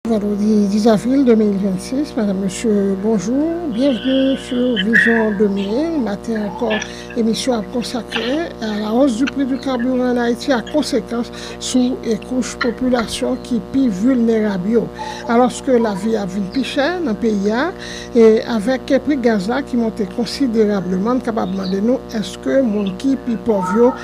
Vandredi 10 avril 2026, madam mesye bonjou, byenvni sou Vizyon 2000, maten ankò emisyon ap konsakre a la hausse du prix du carburant en Ayiti ak konsekans sou kouch popilasyon ki pi vilnerab yo. Alòske lavi ap vin pi chè nan peyi a e avèk pri gaz la ki monte konsiderableman, n kapab mande nou èske moun ki pi pòv yo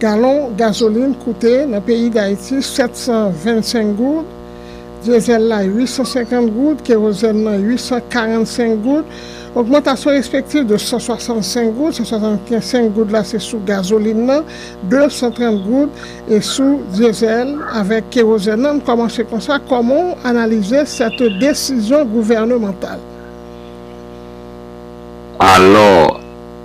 Galon gazolin koute nan peyi Dayiti 725 goud, dyezèl la 850 goud, kerozèn nan 845 goud. Ogmantasyon respektif de 165 goud, 165 goud la se sou gazolin nan, 230 goud e sou dyezèl avèk kerozèn nan. M kòmanse konsa, kòman w analize sète desizyon gouvènemantal? Alò,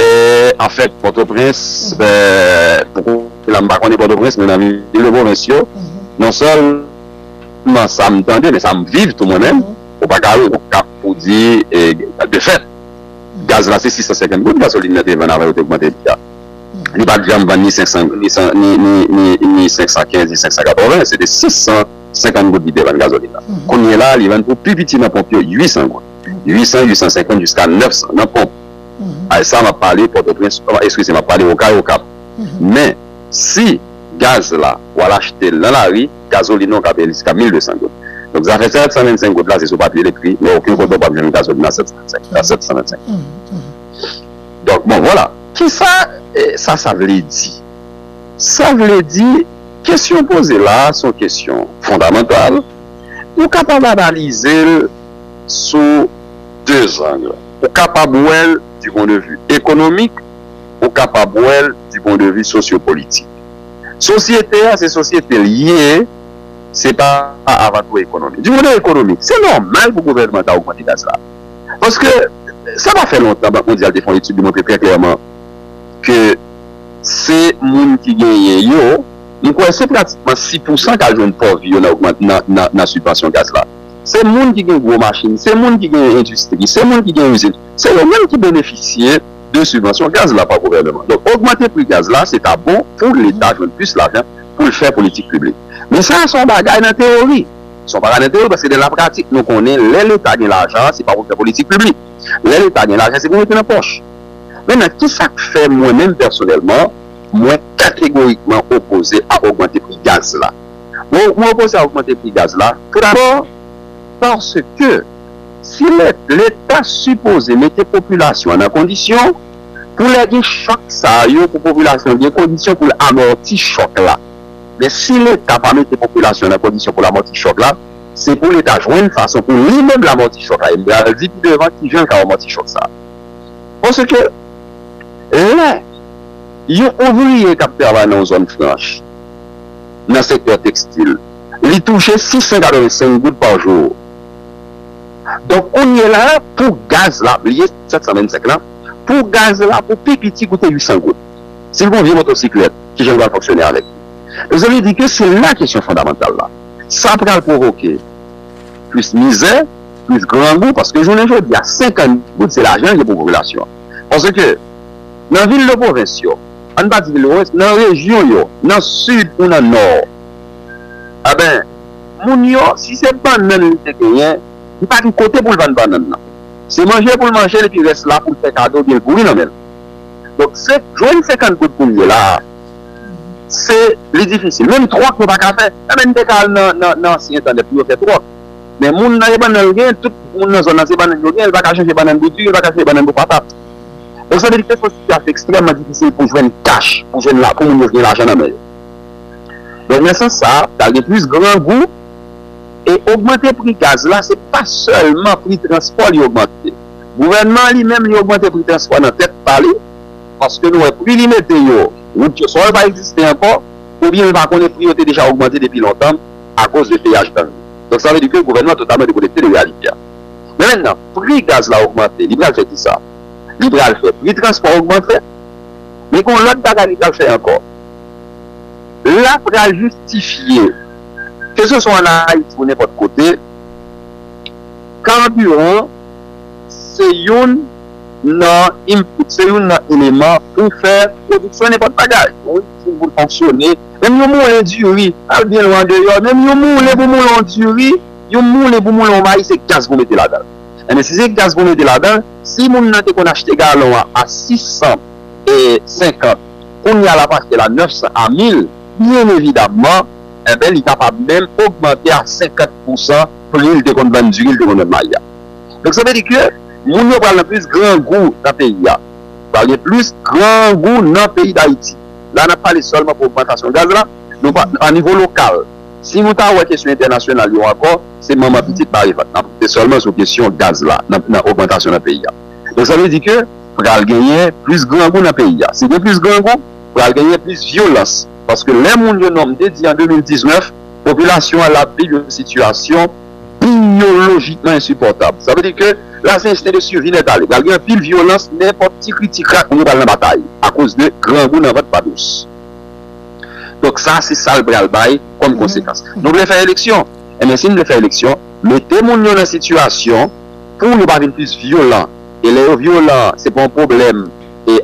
E anfèt Pòtoprens, pou ki sa m pa konnen Pòtoprens men nan vil de pwovens yo, non sèlman sa m tande men sa m viv tou mwen menm, ou pa ka wè yon kap pou di de fèt gaz la se 650 goud gasolin nan te vann avan yo te ogmante li a. Li pa t janm vann ni 500 ni 515 ni 580, se te 650 goud li te vann gazolin nan. Kounyela a li vann pou pi piti nan ponp yo 800 goud, 800, 850 jiska 900 nan ponp. Ay sa map pale pòtoprens eskize map pale okay okap men si gaz la wal achtel nan lari gazolin an kap jiska 1200 goud donk zafè 725 goud la se sou papye l ekri men oken kote ou pap jwenn gazolin a 725 donk bon vwala. Kisa sa sa vle di? Sa vle di kesyon poze la a son kesyon fondamantal nou kapab analize l sou. deux angles. Ou kapab wè l du pon de vu ekonomik, ou kapab wè l du pon de vu sosyopolitik. Sosyete a se sosyete l ye, se pa avan tou ekonomi. Du pon de vu ekonomik, se nòmal pou gouvènman ta ogmante gaz la. Paske sa pa fè lontan Bank Mondyal te fè yon etid li montre trè klèman ke se moun ki genyen yo, m kwè se pratikman 6 pousan k al jwenn pòv yo nan ogman, nan, nan, nan sibvansyon gaz la. Se moun ki gen gwo machin, se moun ki gen endistri, se moun ki gen izin, se yo menm ki benefisye de sibvansyon gaz la pa gouvèneman. Donk ogmante pri gaz la se ta bon pou leta jwenn plis lajan pou l fè politik piblik. Men sa a se yon bagay nan teyori. Se yon bagay nan teyori paske nan lapratik nou konnen lè leta gen lajan an se pa pou l fè politik piblik. Lè leta gen lajan se pou l mete nan pòch. Mentnan ki sa k fè mwen menm pèsonèlman mwen kategorikman opoze a ogmante pri gaz la? Mwen opoze a ogmante pri gaz la tou dabò paske si leta sipoze mete popilasyon an nan kondisyon pou lè gen chòk sa yo pou popilasyon an gen kondisyon pou l amòti chòk la. Men si leta pa mete popilasyon an nan kondisyon pou l amòti chòk la se pou leta jwenn fason pou li menm l amòti chòk la e m pral di pi devan kijan l ka amòti chòk sa a. Paske lè yon ouvriye k ap travay nan yon zòn franch. nan sektè tekstil. Li touche 685 goud pa jou. Donk kounye la pou gaz la, li ye 725 lan, pou gaz la pou pi piti koute 800 goud. Si l gon vye motosiklèt, ki jan l pral fonksyone avèk li? Mezanmi di ke se la kesyon fondamantal la. Sa pral pwovoke plis mizè, plis grangou paske jounen jodi a 50 goud se lajan l ye pou popilasyon an. Paske nan vil de pwovens yo, An patikilewes nan rejyon yo nan sid ou nan nò a ben moun yo si se bannann li te genyen li pa gen kote pou l vann bannann nan se manje pou l manje l epi rès la pou l fè kado oubyen l pouri nan men l donk se jwenn 50 goud pou l ye la a se li difisil menm tròk yo pa ka fè e ben n te ka al nan nan nan ansyen entènèt pou yo fè tròk men moun nan e bannann l genyen tout moun nan zòn nan se bannann yo genyen l pa ka chanje bannann bouti l pa ka chanje bannann pou patat. Bon sa vle di se yon sitiyasyon ekstrèman difisil pou jwenn kach, pou jwenn la, pou moun yo gen lajan nan men yo. Donk nan sans sa, pral gen plis grangou e ogmante pri gaz la se pa sèlman pri transpò li ogmante. Gouvènman an li menm li ogmante pri transpò nan tèt pa li paske nou wè pri li mete yo, wout yo swa yo pa egziste ankò oubyen nou pa konnen pri yo te deja ogmante depi lontan akoz de peyaj gang yo. Donk sa vle di ke gouvènman an totalman dekonekte de reyalite a. Men mennan pri gaz la ogmante li pral fè kisa? Li pral fè pri transpò ogmante. Men gon lòt bagay li pral fè ankò. La pral jistifye ke se swa an Ayiti ou nenpòt kote, karbiran se youn nan input, se youn nan eleman pou fè pwodiksyon nenpòt bagay. Yon izin pou l fonksyone, menm yon moulen diri, al byen lwen andeyò, menm yon moulen pou moule yon diri. Yon moulen pou moulen yon mayi se gaz pou mete ladan l. Enben si se gaz pou mete ladan l, si moun nan te konn achte galon an a 650, kounya l ap achte l a 900 a 1000, byen evidamman, enben li kapab menm ogmante a 50 pousan pri l te konn vann diri, l te konn vann mayi a. Donk sa vle di ke moun yo pral nan plis grangou nan peyi a. Pral gen plis grangou nan peyi Dayiti. La n ap pale sèlman pou ogmantasyon gaz la, nou pa, a nivo lokal. Si nou ta wè kesyon entènasyonal yo ankò, se manman pitit bare vant nan. Se sèlman sou kesyon gaz la nan nan ogmantasyon nan peyi a. Donk sa vle di ke pral genyen plis grangou nan peyi a. Si gen plis grangou, pral genyen plis vyolans. Paske lè moun yo non m te di an 2019, popilasyon an l ap viv yon sitiyasyon biyolojikman ensipòtab. Sa vle di ke la se ensten de survi nètale. Pral gen anpil vyolans, nenpòt ti kri ti krak moun yo pral nan batay akoz de grangou nan vant pa dous. Donk sa se sa l pral bay kòm konsekans. Nou vle fè eleksyon. Enben si n vle fè eleksyon, mete moun yo nan sitiyasyon pou yo pa vin plis vyolan. E lè yo vyolan, se pa yon pwoblèm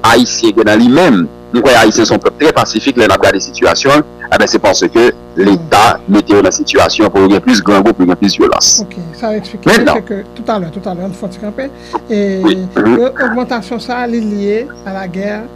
Ayisyen gen nan li menm. M kwè Ayisyen se yon pèp trè pasifik lè n ap gade sitiyasyon l. Enben se paske Leta mete yo nan sitiyasyon pou yo gen plis grangou, pou yo gen plis vyolans. Ok. Sa w eksplike a se ke, toutalè, toutalè, an n fè yon ti kanpe, e ogmantasyon sa a li lye a lagè.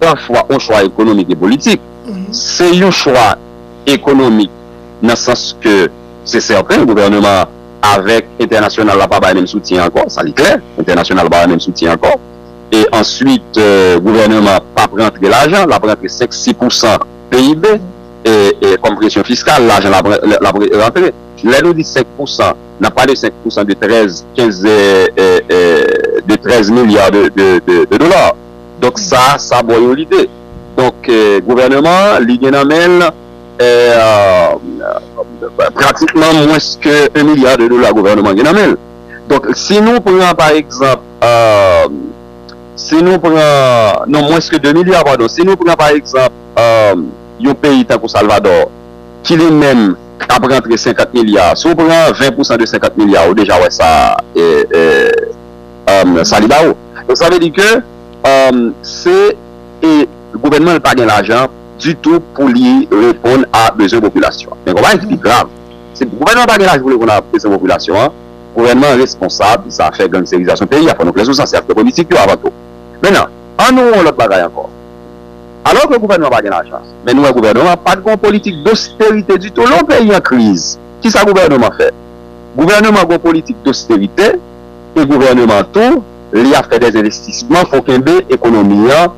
Gran chwa ou chwa ekonomik e politik. Se yon chwa ekonomik nan sans ke se sèten gouvèneman an avèk entènasyonal la pa bay menm soutyen ankò, sa li klè, entènasyonal la pa bay menm soutyen ankò. E answit gouvèneman an p ap rantre lajan, l ap rantre 5, 6 pousan PIB kòm presyon fiskal, lajan l ap rantre. Lè nou di 5 pousan, n ap pale 5 pousan de 13, 15, de 13 milya de dola. Donk sa, sa bo yon lide. Donk gouvèneman an, li gen nan men l pratikman mwens ke 1 milya de dola gouvèneman an gen nan men l. Donk si nou pran pa egzanp, si nou pran, non mwens ke 2 milya padon, si nou pran pa egzanp yon peyi tankou Salvadò ki li menm ap rantre 50 milya, si w pran 20 pousan de 50 milya ou deja wè sa sa li ba ou. Donk sa vle di ke se e gouvènman an pa gen lajan ditou pou li reponn a bezwen popilasyon an. Men gen yon bagay ki pi grav, se gouvènman an pa gen lajan pou li reponn a bezwen popilasyon an, gouvènman an responsab zafè gangsterizasyon peyi a, fò nou klè sou sa, se aktè politik yo avan tou. Mennan, an nou wè yon lòt bagay ankò. Alò ke gouvènman an pa gen lajan, men nou wè gouvènman an pa t gen yon politik dosterite ditou lè yon peyi an kriz. Kisa gouvènman an fè? Gouvènman an gen yon politik dosterite. e gouvèneman tou li ap fè des envestisman pou kenbe ekonomi an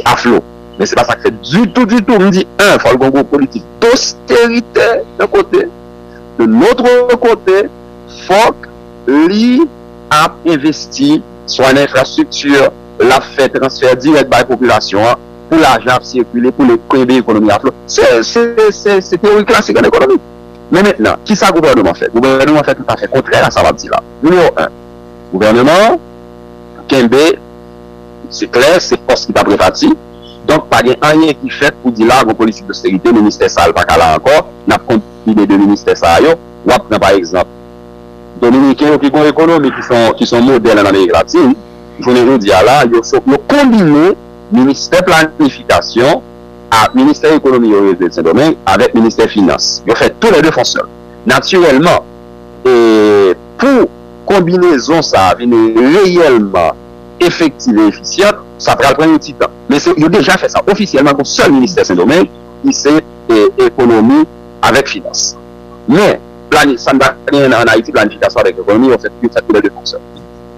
a flo men se pa sa k fèt ditou ditou m di 1 fòl gon gwo politik dosterite yon kote de notre kote fòk li ap envesti swa nan enfrastrikti lap fè transfè dirèk bay popilasyon an pou lajan ap sikile pou li kenbe ekonomi a flo se se se teori klasik an ekonomi men mentnan kisa gouvèneman fè gouvèneman fè tout afè kontrè a sa map di la. Nimewo 1, Gouvèneman an kenbe se klè se pòs ki t ap repati, donk pa gen anyen ki fèt pou di la gon politik dosterite, ministè sa l pa ka la ankò, n ap konbine 2 ministè sa yo. W ap pran pa egzanp Dominiken yo ki gon ekonomi ki s on modèl ann Amerik Latin, jounen jodi a la yo konbine ministè planifikasyon a ministè ekonomi yo rele l Sendomeng avèk ministè finans, yo fè tou lè 2 fonsyonn natirèlman. Pou konbinezon sa a vin reyèlman efektiv e efisyant, sa pral pran yon ti tan. Men se yo deja fè sa. Ofisyèlman, gen yon sèl ministè Sendomeng ki se Ekonomi avèk Finans. Men, plani, sa n pa genyen nan ann Ayiti, planifikasyon avèk ekonomi, yo fèt tou lè de konsè.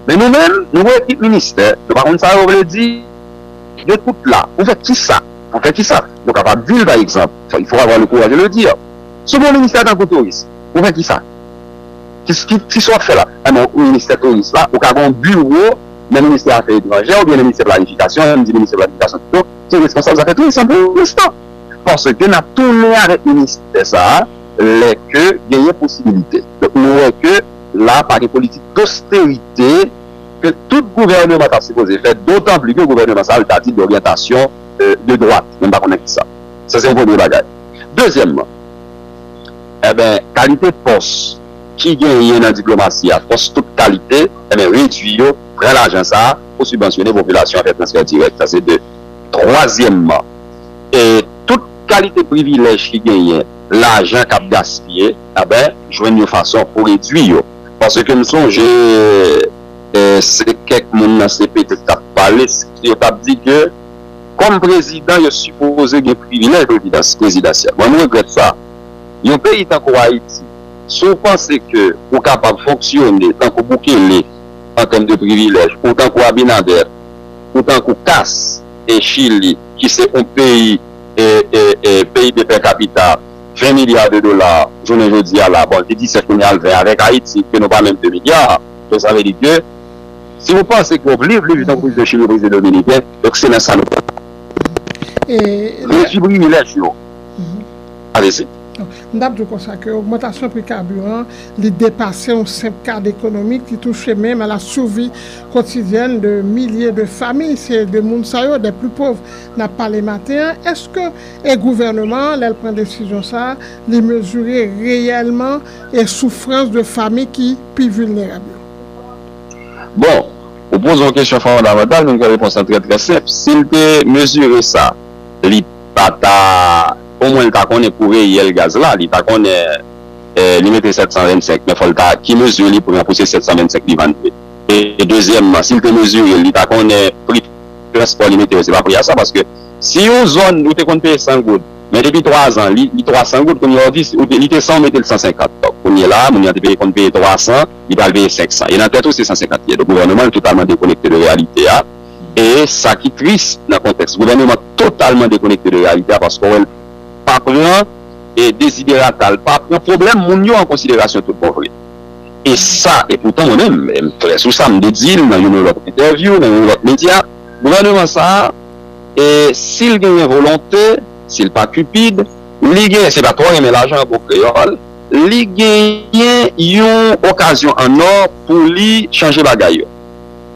Men nou menm, nou gen ekip ministè, nou pa konn sa yo vle di, yo tout la. Pou fè ki sa? Pou fè ki sa? Nou kapab di l, pa egzanp, il faut avoir le courage de le dire, sou bon ministè tankou touris, Ou fè kisa? Ki sa w ap fè la? An nan ministè touris la, ou ka gen yon biwo nan ministè afè etranjè oubyen nan ministè planifikasyon, an n di ministè planifikasyon pito, ki responsab zafè tourism pou l'instant. Paske n ap tounen avèk ministè sa a lè ke genyen posibilite. Donk nou wè ke la a pa gen politik dosterite ke tout gouvèneman ta sipoze fè, dotan pli ke gouvèneman sa a, l ta di doryantasyon de dwat, mwen pa konnen kisa. Sa se yon premye bagay. Dezyèmman. Enben, kalite fòs ki genyen nan diplomasi a, fòs tout kalite, enben redui yo, pran lajan sa a pou sibvansyone popilasyon an, fè transfè dirèk. Sa se de. Twazyèmman, e tout kalite privilèj ki genyen, lajan k ap gaspiye, enben jwenn yon fason pou redui yo. Paske m sonje se kèk moun nan CPT k t ap pale, yo t ap di ke. Kòm prezidan yo sipoze gen privilèj rezidans prezidansyèl. Mwen m regrèt sa. Yon peyi tankou Ayiti, si w panse ke ou kapab fonksyone tankou Bukele an tèm de privilèj, ou tankou Abinader, ou tankou Kass e Chili ki se yon peyi PIB per capita 20 milya de dola jounen jodi a la, bon li 17 kounye a l 20 avèk Ayiti ke nou pa menm 2 milya, donk sa vle di ke. Si ou panse ke wap liv, liv tankou prezidan chili, prezidan dominiken, donk se nan sa nou pral pran. Reji privilèj yo. Alezi. M tap di w konsa ke ogmantasyon pri kabiran li depase yon senp kad ekonomik, li touche menm a la survi kotidyèn de milye de fami. Se de moun sa yo, des plus pauvres, nap pale maten an. Eske e gouvèneman an lè l pran desizyon sa a, li mezire reyèlman e soufrans de fami ki pi vilnerab yo? Bon, ou poze yon kesyon fondamantal men ke repons lan trè trè senp. Si l te mezire sa, li pa ta, omwen li ta konnen kou reyèl gaz la, li ta konnen li mete 725 men fò l ta, ki mezi li pran pou se 725 li vann li. E dezyèmman, si l te mezire l, li ta konnen pri transpò li mete yo se pa pri a sa paske si yon zòn ou te konn peye 100 goud men depi 3 zan li 300 goud kounye a ou di li te 100 ou mete l 150 donk kounye la a moun nan te peye konn peye 300 li pral peye 500 e nan tèt ou se 150 kiyè. Donk gouvèneman an totalman dekonekte de reyalite a e sa ki tris nan kontèks gouvèneman totalman dekonekte de reyalite a paske w wè l pa pran deziderata, l pa pran pwoblèm moun yo an konsiderasyon tout bon vre e sa e poutan mwen menm e m klè sou sa m te di l nan youn lòt entèvyou, nan youn lòt medya gouvèneman sa a e si l genyen volonte, si l pa cupid li genyen, se pa twò renmen lajan an bon kreyòl. Li genyen yon okazyon an or pou li chanje bagay yo.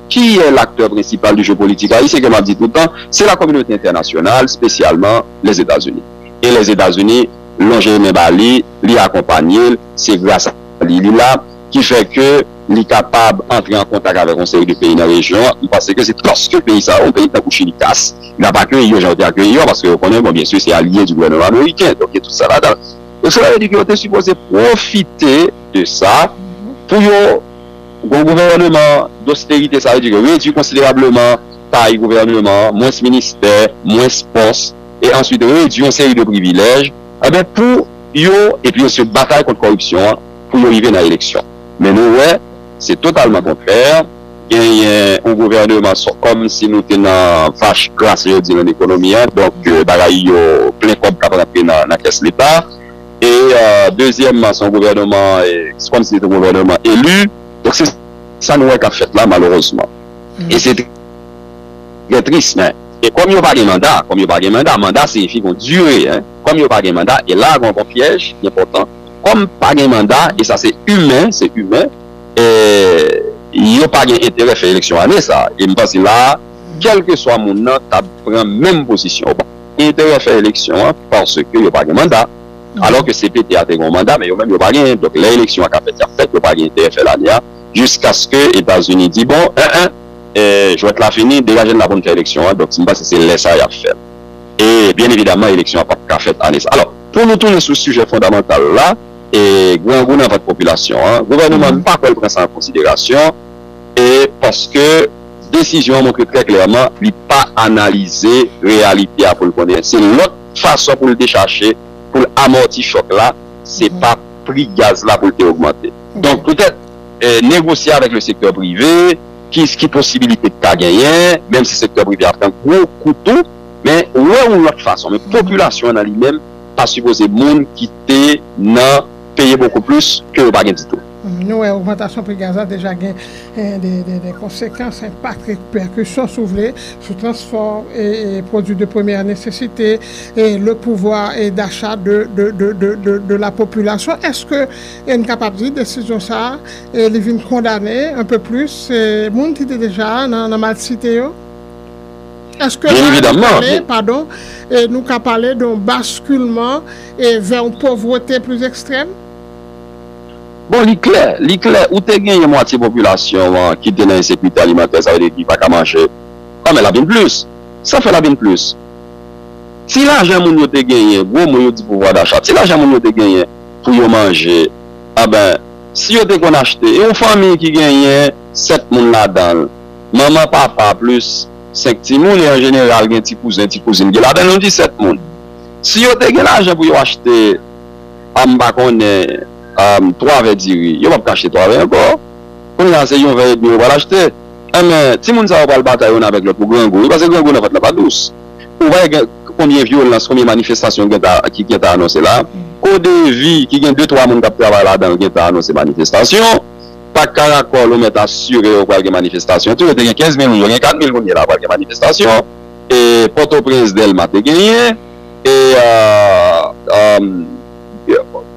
Ki yè laktè prensipal di jeopolitik ayisyen ke map di tout tan, se la kominote entènasyonal spesyalman Lèzetazini. E Lèzetazini lonje men ba li, li akonpanye l, se gras a li li la, ki fè ke li kapab antre an kontak avèk yon seri de peyi nan rejyon an, li panse ke se paske peyi sa yo, peyi tankou Chili kas, li ap akeyi yo jan yo te akeyi yo a, paske yo konnen bon byen sur se alye di gouvèneman ameriken, donk gen tout sa ladan l. Donk sa vle di ke yo te sipoze pwofite de sa pou yo gon gouvèneman dosterite, sa vle di ke redui konsiderableman tay gouvèneman an, mwens ministè, mwens pòs, e answit redui yon seri de privilèj, enben pou yo, epi yo se batay kont kòripsyon an pou yo rive nan eleksyon. Men nou wè se totalman kontrè. genyen yon gouvèneman sòt kòm si nou te nan vach gras yo di nan ekonomi an donk bagay yo plen kòb k ap rantre nan kès leta e dezyèmman se yon gouvèneman se kòm si se te yon gouvèneman eli donk se sa nou wè k ap fèt la malerezman e se trè tris men e kòm yo pa gen manda kòm yo pa gen manda manda siyifi gon dire kòm yo pa gen manda e la a gon pyèj enpòtan kòm pa gen manda e sa se imen se imen. yo pa gen enterè fè eleksyon ane sa a. E m panse la a, kèlkeswa moun nan t ap pran menm pozisyon. Yo pa gen enterè fè eleksyon an paske yo pa gen manda. Alò ke cpt a te gen yon manda, men yo menm yo pa genyen. Donk, lè eleksyon an ka fèt, y ap fèt. Yo pa gen enterè fè l ane a jiskaske Etazini di, Bon, en en, jwèt la fini, degaje n la pou n fè eleksyon an. Donk, m panse se lè sa a y ap fè l. E, byen evidaman, eleksyon an pap ka fèt ane sa a. Alò, pou nou tounen sou sijè fondamantal la. e grangou nan vant popilasyon an, gouvèneman an pa kwè l pran sa an konsiderasyon e paske desizyon an montre trè klèman li pa analize reyalite a pou l konnen se lòt fason pou l dechache, pou l amòti chòk la, se pa pri gaz la pou l te ogmante. Donk petèt negosye avèk le sektè prive, ki posibilite ki ta genyen, menm si sektè prive a pran gwo kou tou, men wè yon lòt fason, men popilasyon an nan li menm. pa sipoze moun ki te nan peye bokou plis ke yo pa gen ditou. Nou wè ogmantasyon pri gaz la deja gen de konsekans, enpak, repèkisyon si w vle, sou transfò e pwodui de premyè nesesite e le pouvwa dacha de la popilasyon. Eske n kapab di desizyon sa li vin kondane anpe plis moun ki te deja nan malsite yo? Èske la a nou ka le padon e nou ka pale de yon baskilman e vè yon povrete plis ekstrèm? Bon li klè, li klè ou te genyen mwatye popilasyon an ki te nan ensekirite alimantè sa vle di ki pa ka manje an men l ap vin plis. Sa fè l ap vin plis. Ti lajan moun yo te genyen, gwo mo yo di pouvwa dacha, ti lajan moun yo te genyen pou yo manje anben si yo te konn achte yon fanmi ki genyen 7 moun ladan l, manman, papa plis 5 timoun e an jeneral gen ti kouzen, ti kouzin ki ladan l yon 17 moun. Si yo te gen lajan pou yo achte, m pa konnen, 3 vè diri, yo p ap ka achte 3 vè ankò. Kounye a se yon vè edmi yo pral achte. Enben, timoun sa yo pral batay youn avèk lòt pou grangou wi, paske grangou nan vant lan pa dous. Ou pa wè gen konbyen vyolans, konbyen manifestasyon ki gentan ki gentan anonse la. Kodevi ki gen de twa moun k ap travay ladan l gentan anonse manifestasyon. Pak Karakòl ou mèt asire yo pral gen manifestasyon tou, yo te gen 15 mil moun, yo gen 4 mil moun ye la pral gen manifestasyon, e Pòtoprens Dèlma te genyen, e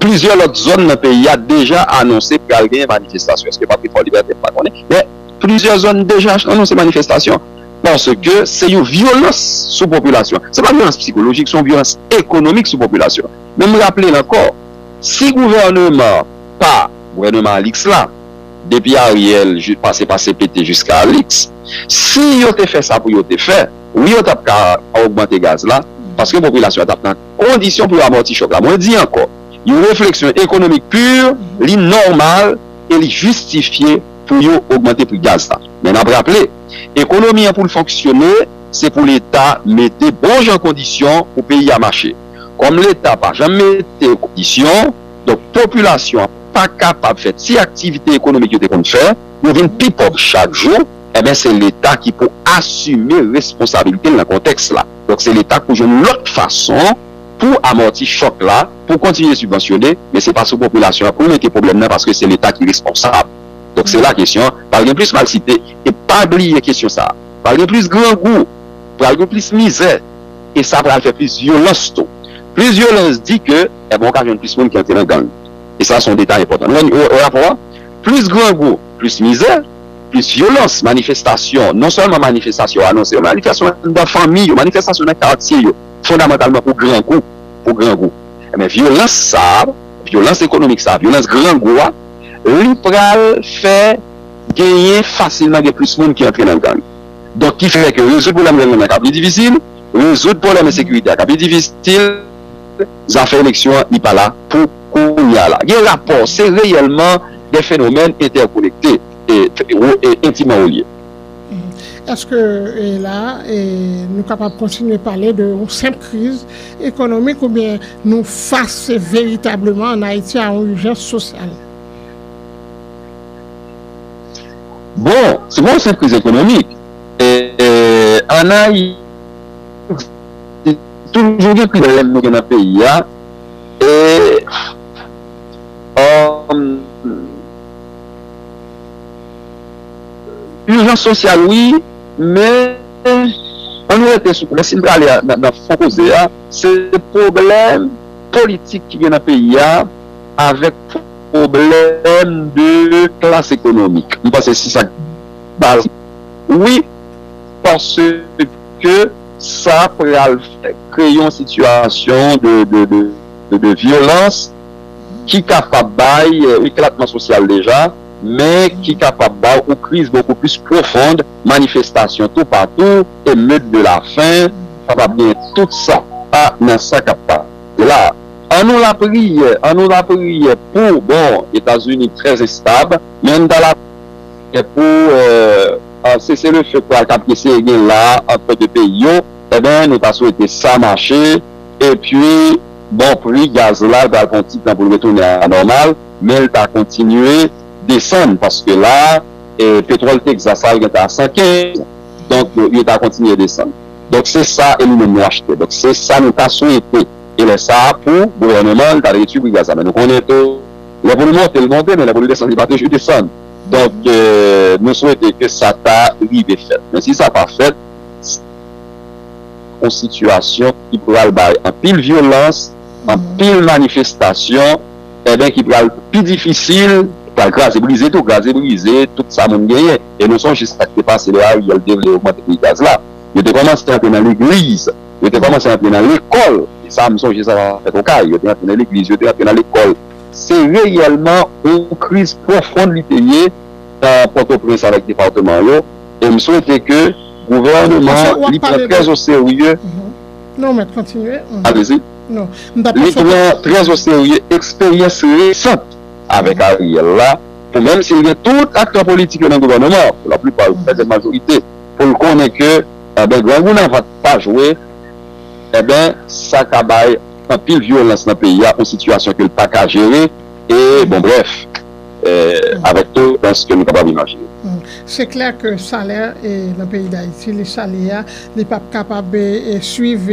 plizyè lòt zòn nan peyi a deja anonse pral gen manifestasyon, èske pap gen Fòlibète m pa konnen, men plizyè zòn deja anonse manifestasyon, paske se yon vyolans sou popilasyon, se pa vyolans psikolojik, se yon vyolans ekonomik sou popilasyon, men m raple l ankò, si gouvèneman pa. Gouvèneman Alix la, depi Ariel pase pa CPT jiska Alix, si yo te fè sa pou yo te fè, wi yo tap ka ogmante gaz la, paske popilasyon an tap nan kondisyon pou yo amòti chòk la. Mwen di ankò, yon refleksyon ekonomik pur, li nòmal e li jistifye pou yo ogmante pri gaz la. Men nap raple, ekonomi an pou l fonksyone, se pou leta mete bon jan kondisyon pou peyi a mache. Kòm leta pa janm mete kondisyon, Donk popilasyon an pa kapab fè ti aktivite ekonomik yo te konn fè, yo vin pi pòv chak jou, enben se leta ki pou asime responsabilite l nan kontèks la. Donk se leta k pou jwenn lòt fason pou amòti chòk la, pou kontinye sibvansyone, men se pa sou popilasyon an pou mete pwoblèm nan paske se leta ki responsab. Donk se la kesyon an pral gen plis malsite e pa bliye kesyon sa a pral gen plis grangou, pral gen plis mizè e sa pral fè plis vyolans tou. Plis vyolans di ke. Ebon ou ka jwenn plis moun ki antre nan gang. E sa se yon detay enpòtan. Nou wè nan rapò a, plis grangou, plis mizè, plis vyolans, manifestasyon, non sèlman manifestasyon yo anonse yo, manifestasyon anndan fanmi yo, manifestasyon nan katye yo, fondamantalman pou grangou, pou grangou. Enben vyolans sa a, vyolans ekonomik sa a, vyolans grangou a, li pral fè genyen fasilman gen plis moun ki antre nan gang. Donk ki fè ke rezoud pwoblèm gang nan ka pi difisil, rezoud pwoblèm ensekirite a ka pi difisil. zafè eleksyon an li pa la pou kounya a la. Gen rapò, se reyèlman de fenomèn entèkonekte e entiman relye. Eske la a nou kapab kontinye pale de yon senp kriz ekonomik oubyen nou fas veritableman an Ayiti a yon ijans sosyal? Bon, se pa yon senp kriz ekonomik. An Ayiti. Toujou gen pil rèn nou gen nan peyi a e Ijans sosyal wi men an nou rete sou koze si n prale nan fon koze a se pwoblèm politik ki gen nan peyi a avèk pwoblèm de klas ekonomik m panse se sa k baz wi paske sa pral kreye yon sitiyasyon de vyolans ki kapab bay eklatman sosyal deja, men ki kapab bay yon kriz bokou plis pwofon, manifestasyon toupatou, emeut de la fen, kapab gen tout sa nan sa k ap pase la. An nou lapriyè, an nou lapriyè pou, bon, Etazini trè enstab, men an nou ta lapriyè pou. Sese le feu pral kap eseye gen la antre 2 peyi yo enben nou ta swete sa mache epi bon pri gaz la pral pran yon ti tan poul retounen a la nòmal menl ta kontinye desann paske la petwòl Texas la gentan a 115 donk yo ta kontinye desann donk se sa e nou menm nou achte donk se sa nou ta swete e lè sa pou gouvèneman ta redwi pri gaz la men nou konnen tou lè pou li monte li monte men lè pou li desann li pa toujou desann. Donk nou swete ke sa ta rive fèt. Men si sa pa fèt, se yon sitiyasyon ki pral bay anpil vyolans, anpil manifestasyon, enben ki pral pi difisil, ki pral kraze brize tou, kraze brize tout sa moun genyen. E nou sonje sa ki te pase lè Ariel te vle ogmante pri gaz la. Yo te kòmanse antre nan legliz, yo te kòmanse antre nan lekòl. E sa m sonje sa fèt Okay. Yo te antre nan legliz, yo te antre nan lekòl. Se reyèlman yon kriz pwofon li te ye nan Pòtoprens avèk depatman yo e m swete ke gouvèneman an li pran trè o serye li pran trè o serye eksperyans resant avèk Ariel la pou menm si l gen tout aktè politik yo nan gouvèneman an pou la plipa yo trè grande majorite pou l konnen ke grangou nan vant pa jwe e ben sa ka bay. anpil vyolans nan peyi a, yon sitiyasyon ke l pa ka jere, e bon brèf, avèk to dans ke nou kapab imajine. Se klè ke salè nan peyi Dayiti, li sale a, li p ap kapab swiv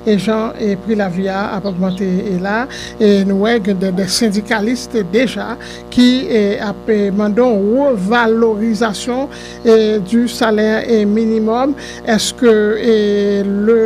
jan pri lavi a ap ogmante la a, e nou wè gen dè sendikalis deja ki ap mande yon revalorizasyon di salè minimòm, èske le.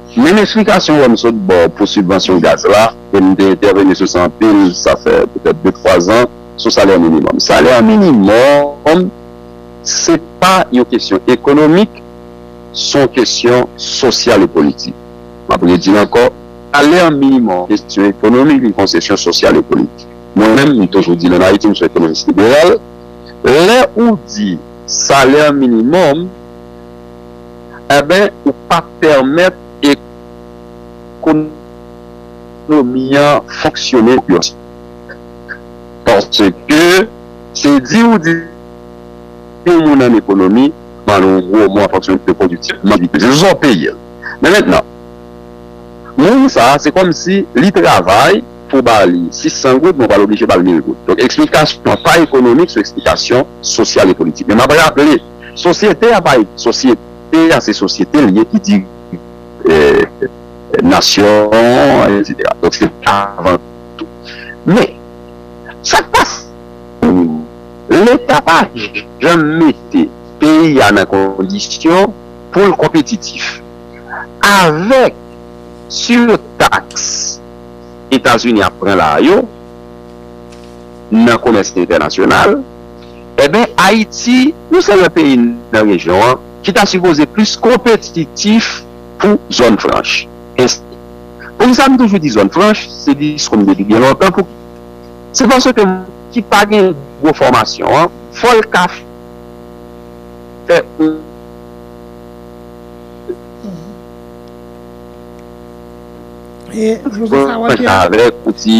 Menm eksplikasyon wè m sot ba w pou sibvansyon gaz la, e m te entèveni sou sa anpil, sa fè petèt de twa zan, sou salè minimòm. Salè minimòm se pa yon kesyon ekonomik, s on kesyon sosyal e politik. M ap redi l ankò, salè minimòm se kesyon ekonomik, li konsesyon sosyal e politik. Mwen menm, m toujou di l ann Ayiti, m s on ekonomis liberal, lè ou di salè minimòm, Enben ou pa pèmèt ekonomi an fonksyone yon seri paske se di ou di yon moun an ekonomi mande yon gwo mo an fonksyon de pwodiktivman li peze se sa ou peye l men mentnan moun sa se kòmsi li travay pou w ba li 600 goud men ou pral oblije ba l 1000 goud donk eksplikasyon pa ekonomik se eksplikasyon sosyal e politik men m ap raple. Sosyete a pa egziste. Sosyete a se sosyete l ye ki dirije nasyon an etsetera. Donk se sa avan tou. Men, sa k pase nan peyi a, Leta pa janm mete peyi a nan kondisyon pou l konpetitif. Avèk sirtaks Etazini ap pran la a yo nan komès entènasyonal, Enben Ayiti, yon sèl nan peyi nan rejyon an, ki ta sipoze plis konpetitif pou zòn franch, ensti. Poukisa m toujou di zòn franch, se diskou m depi byen lontan, pou ki? Se paske moun ki pa gen gwo fòmasyon an, fò l ka fè yon. E, pwofesè Walter. Avèk yon ti.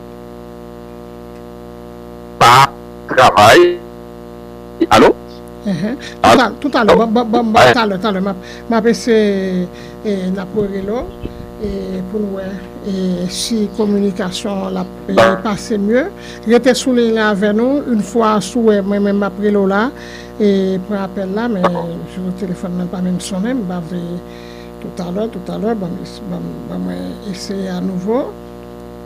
pa travay alo tout alè talè talè map ese nap rele w pou nou wè si kominikasyon la pase mye rete sou liy la avè nou yn fwa sou wè mwen menm map rele w la pran apèl la men jou telefòn nan pa menm sonnen m pa vle tout alè tout alè ban mwen eseye anouvo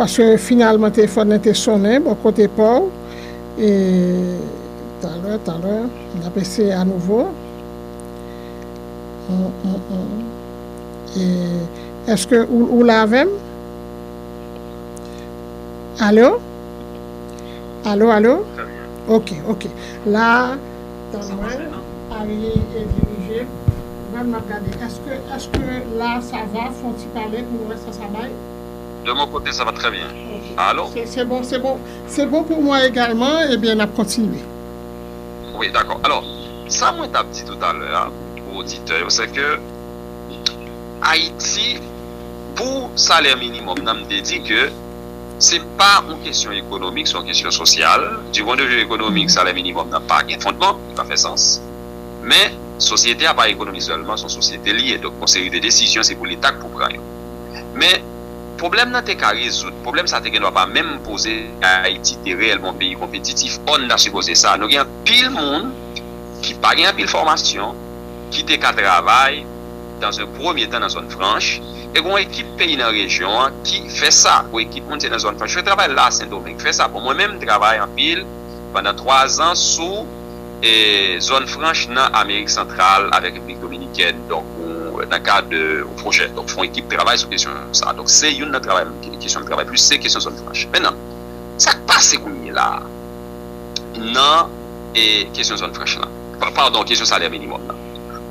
Paske finalman telefòn nan te sonnen bò kote pa w. E talè, talè, n ap eseye anouvo. Eske ou la avè m? Alo? Alo, alo? Ok, ok. La. Tann mwen Arie e dirije. Gad map gade eske eske la sa va fon ti pale pou nou wè sa sa bay. De mon kote sa va trè byen. Alo? Ok se bon se bon se bon pou mwen egalman ebyen nap kontinye. Wi dakò alò sa mwen tap di toutalè a pou oditè yo se ke Ayiti pou salè minimòm nan m te di ke. Se pa yon kesyon ekonomik, se yon kesyon sosyal. Du pwen de vi ekonomik, salè minimòm nan pa gen fondman, li pa fè sans. Men, sosyete a pa ekonomi sèlman, se yon sosyete li ye. Donk, yon seri de desizyon se pou Leta ki pou pran yo. Men, pwoblèm nan te ka rezoud, pwoblèm sa a te gen dwa pa menm poze si Ayiti te reyèlman yon peyi konpetitif. Ò, nou ta sipoze sa. Nou gen anpil moun ki pa gen anpil fòmasyon, ki te ka travay. dans un premye tan nan zòn franch, e gon ekip peyi nan rejyon an ki fè sa, pou ekip moun se nan zòn franch yo travay la sendomeng fè sa, bon mwen menm m travay anpil pandan 3 zan sou e zòn franch nan amerik santral avèk repiblik dominikèn donk nan kad yon pwojè donk fon ekip travay sou kesyon sa donk se youn nan travay m kesyon m travay plis se kesyon zòn franch mennan sak pase kounye la nan e kesyon zòn franch lan padon kesyon salè minimòm lan.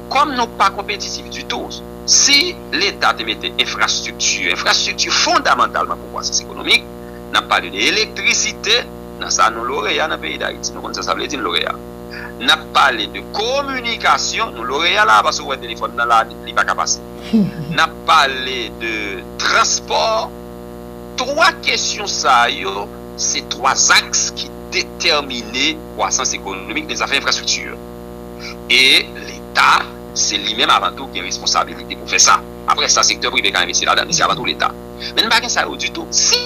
Kòm nou pa konpetitif ditou, si Leta te mete enfrastrikti, enfrastrikti fondamantalman pou kwasans ekonomik, n ap pale de elektrisite, nan sa nou loreya nan peyi Dayiti, nou konn sa sa vle di n loreya. N ap pale de kominikasyon, nou loreya la a paske ou wè telefòn nan la a li pa ka pase. N ap pale de transpò. Twa kesyon sa yo se twa zaks ki detèmine kwasans ekonomik nan zafè enfrastrikti yo. E Leta, se li menm avan tou ki gen responsabilite pou fè sa. Apre sa, sektè prive ka envesti ladan li. Se avan tou Leta. Men nou pa gen sa yo ditou. Si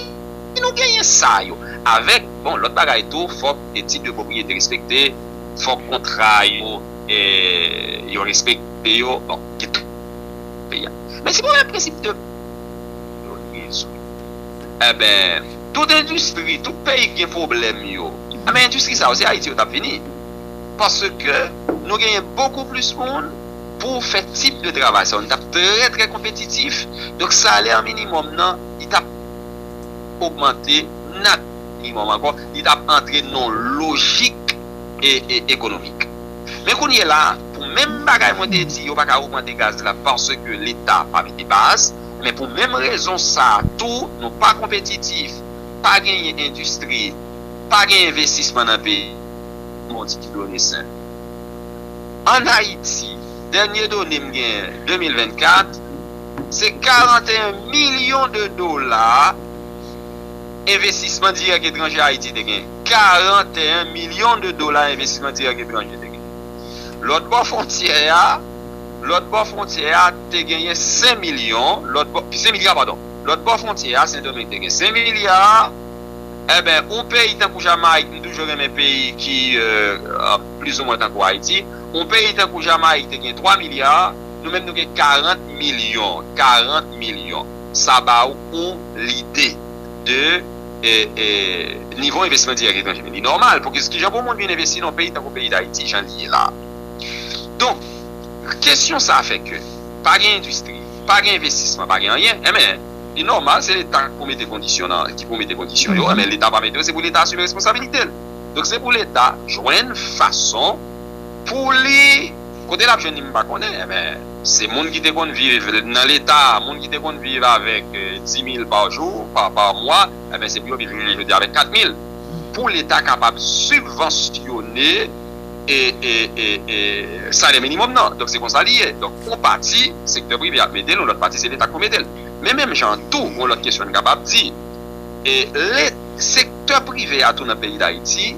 nou genyen sa yo, avèk, bon, lòt bagay tou, fòk tit de pwopriyete respekte, fòk kontra yo, yo respekte yo. Bon, gen tout peyi a. Men si pwoblèm prensip de baz yo rezoud, enben, tout endistri, tout peyi ki gen pwoblèm yo, enben endistri sa yo, se Ayiti yo t ap vini. Paske nou genyen bokou plis moun pou fè tip de travay sa yo. Nou tap trè trè konpetitif. Donk salè minimòm nan li tap ogmante nat minimòm ankò. Li tap antre nan yon lojik ekonomik. Men kounye la, pou menm bagay mwen te di yo pa ka ogmante gaz la paske leta pa mete baz. Men pou menm rezon sa tou nou pa konpetitif, pa genyen endistri, pa genyen envestisman nan peyi. Bon di ki done sen. An Ayiti, dènye done m gen 2024, se 41 milyon de dola envestisman dirèk etranje Ayiti te genyen. 41 milyon de dola envestisman dirèk etranje te genyen. Lòt bò fwontyè a, lòt bò fwontyè a te genyen 5 milyon, lòt bò, 5 milya padon. Lòt bò fwontyè a, Sendomeng te gen 5 milya. Enben yon peyi tankou Jamayik, m toujou renmen peyi ki plizoumwen tankou Ayiti, yon peyi tankou Jamayik te gen 3 milya, nou menm nou gen 40 milyon, 40 milyon. Sa ba ou yon lide de nivo envestisman dirèk etranje. Men li nòmal pou ki jan pou moun vin envesti nan yon peyi tankou peyi Dayiti jan li ye la a. Donk, kesyon sa fè ke pa gen endistri, pa gen envestisman, pa gen anyen, enben, Li nòmal se leta pou mete kondisyon nan ki pou mete kondisyon yo men leta pa mete yo se pou leta asime responsabilite l donk se pou leta jwenn fason pou li kote lap jwenn li m pa konnen men se moun ki te konn viv nan leta moun ki te konn viv avèk dimil pa jou pa mwa se pou yo viv jounen jodi a avèk katmil pou leta kapab sibvansyone. e salè minimòm nan. Donk se konsa li ye. Donk yon pati sektè prive ap mete l, yon lòt pati se leta k pou mete l. Men menm jan an tou, yon lòt kesyon n kapab di, sektè prive a tou nan peyi Dayiti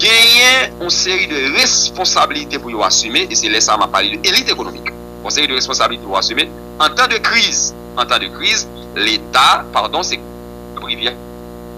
genyen yon seri de responsablite pou yo asime e se lè sa a m ap pale de elit ekonomik. Yon seri de responsablite pou asime antan de kriz, antan de kriz leta, padon sektè prive a.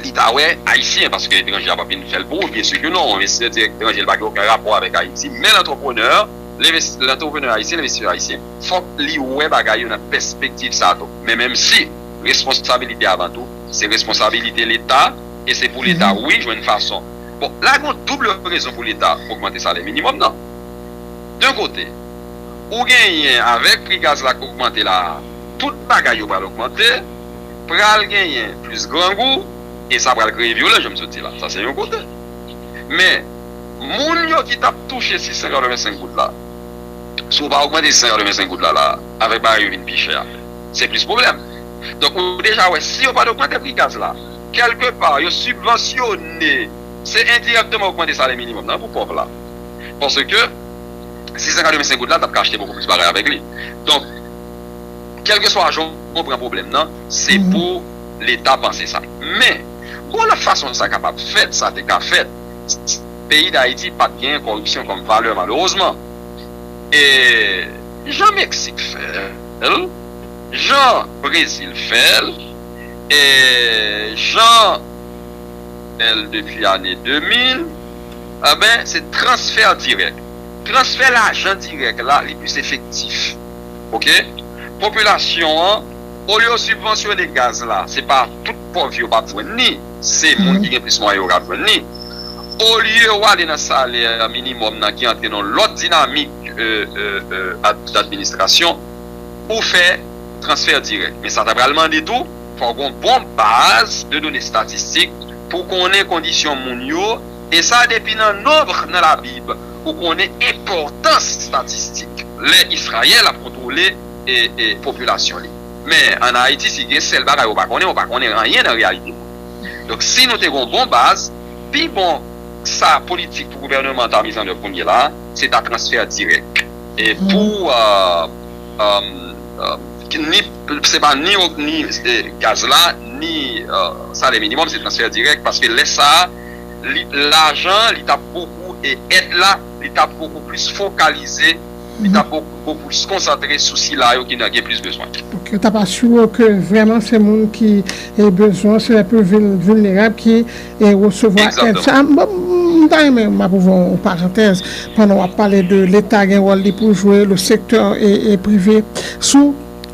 li ta wè ayisyen paske etranje a pap vin fèl pou ou byen si ke non envestisè dirèk etranje li pa gen oken rapò avèk ayiti men lantreprenè lantreprenè ayisyen envestisè ayisyen fòk li wè bagay yo nan pèspektiv sa tou men menm si responsabilite avan tou se responsabilite leta e se pou leta wi jwenn fason bon la gon double rezon pou leta ogmante salè minimòm nan de kote ou genyen avèk pri gaz la k ogmante la tout bagay yo pral ogmante. pral genyen plis grangou e sa pral kreye vyolans jan m sot di la. Sa se yon kote. Men, moun yo ki t ap touche 685 goud la, si w pa ogmante 685 goud la la a, avèk bagay yo vin pi chè a, se plis pwoblèm. Donk, ou deja wè, si yo pa t ogmante pri gaz la, kèlke pa yo sibvansyone, se endirèkteman ogmante salè minimòm nan pou pòv la. Paske, 685 goud la t ap ka achte bokou plis bagay avèk li. Donk. kelkeswa jan ou pran pwoblèm nan, se pou leta panse sa. Men, gon lòt fason sa kapab fèt, sa te ka fèt, si peyi Dayiti pa t gen kòripsyon kòm valè malerezman. E, jan Meksik fè l, jan Brezil fè l, e, jan fè l depi ane 2000, enben, se transfè dirèk. Transfè lajan dirèk la, li plis efektif. ok popilasyon an olye yo sibvansyone gaz la se pa tout pòv yo pap jwenn ni se moun ki gen plis mwayen yo kap jwenn ni olye yo ale nan salè minimòm nan ki antre nan lòt dinamik administrasyon pou fè transfè dirèk men sa ta pral mande tou fò gon bon baz de done statistik pou konnen kondisyon moun yo. E sa depi nan nonbre nan la bib ou konnen enpòtans statistik lè Israel ap kontrole popilasyon li men an Haiti si gen sèl bagay ou pa konnen ou pa konnen anyen nan reyalite moun donk si nou te gon bon baz pi bon sa politik pou gouvèneman ta miz an dèv kounye la se ta transfè dirèk e pou ni se pa ni gaz la ni salè minimòm se transfè dirèk paske lè sa. li lajan li tap bokou e èd la li tap bokou plis fokalize li tap bokou bokou plis konsantre sou sila yo ki nan gen plis bezwen. Ok yo tap asire w ke vrèman se moun ki e bezwen an se lè pil vil vilnerab ki e resevwa èd sa m bon m ta renmen map ouvè yon parantèz pandan wap pale de leta gen wòl li pou jwe le sektè e prive sou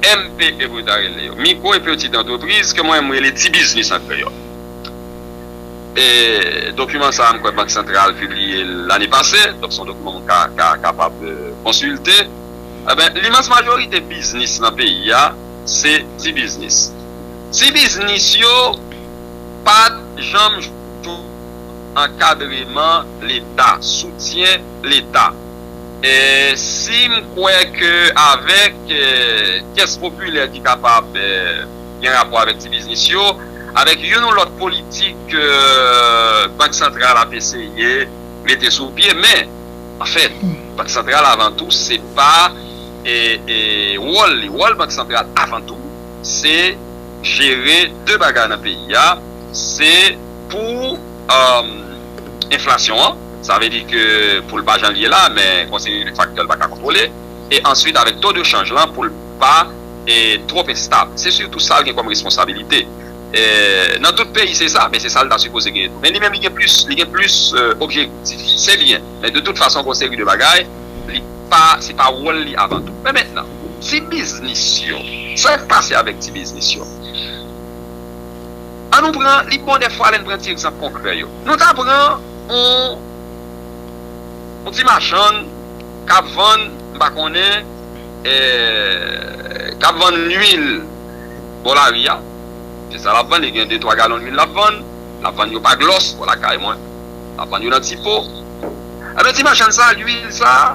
MPE pou yo ta rele yo, Micro et Petite Entreprise, ke mwen menm m rele Ti Biznis an kreyòl. E dokiman sa a m kwè Bank Santral pibliye l lane pase, donk se yon dokiman moun ka kapab konsilte. Enben, limans majorite biznis nan peyi a se ti biznis. Ti biznis yo pa t janm jwenn ankadreman Leta, soutyen Leta. e si m kwè ke avèk kès popilè ki kapab gen rapò avèk ti biznis yo, avèk youn ou lòt politik ke Bank Santral ap eseye mete sou pye, men, anfèt, Bank Santral avan tou se pa wòl li, wòl Bank Santral avan tou se jere de bagay nan peyi a, se pou. enflasyon an, sa vle di ke pou l pa jan l ye la, men konseye de faktè l pa ka kontwole, e answit avèk to de chanj lan pou l pa twòp enstab. Se sitou sa l gen kòm responsabilite. Nan tout peyi se sa, men se sa l ta sipoze genyen tou. Men li menm li gen plis, li gen plis objektif. Se byen, men de tout fason gon seri de bagay, li pa, se pa wòl li avan tou. Men mentnan, ti biznis yo, sa k pase avèk ti biznis yo? An nou pran, li bon dèfwa lè n pran ti egzanp konkrè yo. Nou ta pran yon yon ti machann k ap vann, m pa konnen, k ap vann luil bò lari a. Se sa l ap vann, li gen de twa galon luil l ap vann. L ap vann yo pa glòs bò lakay mwen. L ap vann yo nan ti po. Enben, ti machann sa a, luil sa a,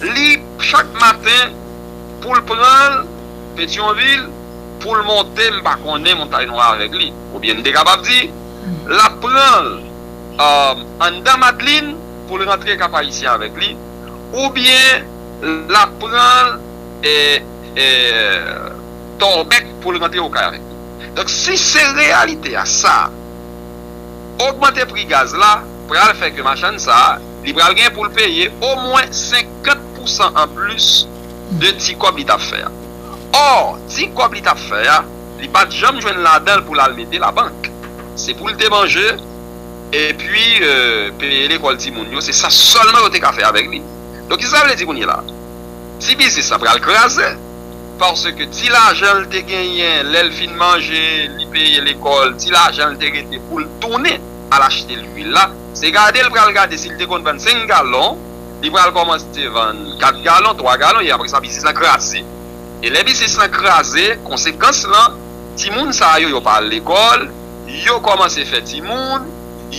li chak maten pou l pran l Petyonvil, pou l monte m pa konnen Montay Nwa avèk li. Oubyen n te kapab di, l ap pran l anndan Madlin pou l rantre Kap-Ayisyen avèk li, oubyen l ap pran l Tòlbèk pou l rantre Okay avèk li. Donk, si se reyalite a sa, ogmante pri gaz la pral fè ke machann sa a, li pral gen pou l peye omwen 50 pousan anplis de ti kòb li t ap fè a. Or, ti kòb li t ap fè a, li pa t janm jwenn ladan l pou l al mete labank. Se pou l te manje, epi peye lekòl timoun yo, se sa sèlman yo te ka fè avèk li. Donk, ki sa sa vle di kounye la a? Ti biznis la pral kraze, paske ti lajan l te genyen lè l fin manje, li peye lekòl, ti lajan l te rete pou l tounen al achte luil la, se gade l pral gade si l te konn vann senk galon, Li pral kòmanse vann 4 galon, 3 galon e apre sa biznis lan kraze. E lè biznis lan kraze, konsekans lan, timoun sa yo, yo pa al lekòl, yo kòmanse fè timoun,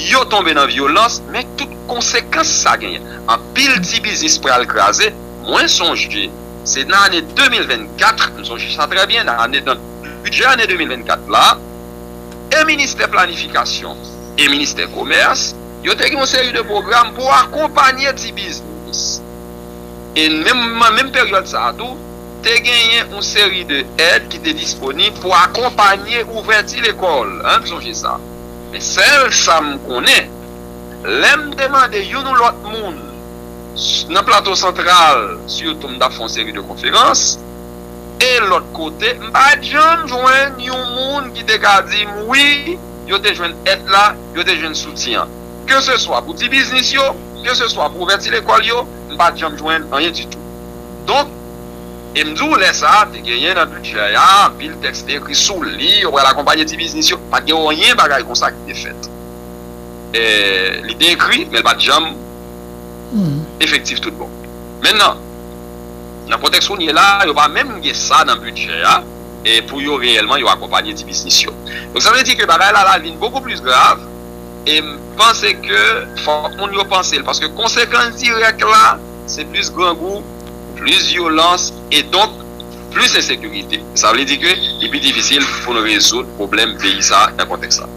yo tonbe nan vyolans, men tout konsekans sa genyen. Anpil ti biznis pral kraze. Mwen sonje, se nan ane 2024, m sonje sa trè byen, nan ane nan bidjè ane 2024 la, e ministè planifikasyon e ministè komès, Yo te gen yon seri de pwogram pou akonpanye ti biznis. E menm nan menm peryòd sa a tou, te genyen yon seri de èd ki te disponib pou akonpanye ouvèti lekòl. An n sonje sa. Men sèl sa m konnen, lè m te mande youn ou lòt moun nan Plato Santral sitou m t ap fè yon seri de konferans e lòt kote, m pa t janm jwenn yon moun ki te ka di m wi, yo te jwenn èd la, yo te jwenn soutyen an. Ke se swa pou ti biznis yo, ke se swa pou ouvèti lekòl yo, m pa t janm jwenn anyen ditou. Donk, e m di w lè sa a, te genyen nan bidjè a, anpil tèks te ekri sou li, yo pral akonpanye ti biznis yo. Pa t gen anyen bagay konsa ki te fèt. Li te ekri, men l pa t janm efektif tout bon. Mennan, nan kontèks kounye la a, yo pa menm gen sa nan bidjè a. pou yo reyèlman yo akonpanye ti biznis yo. Donk sa vle di ke bagay la la vin bokou plis grav e m panse ke fòk moun yo panse l paske konsekans dirèk la se plis grangou, plis vyolans e donk plis ensekirite. Sa vle di ke li pi difisil pou n rezoud pwoblèm peyi sa nan kontèks sa.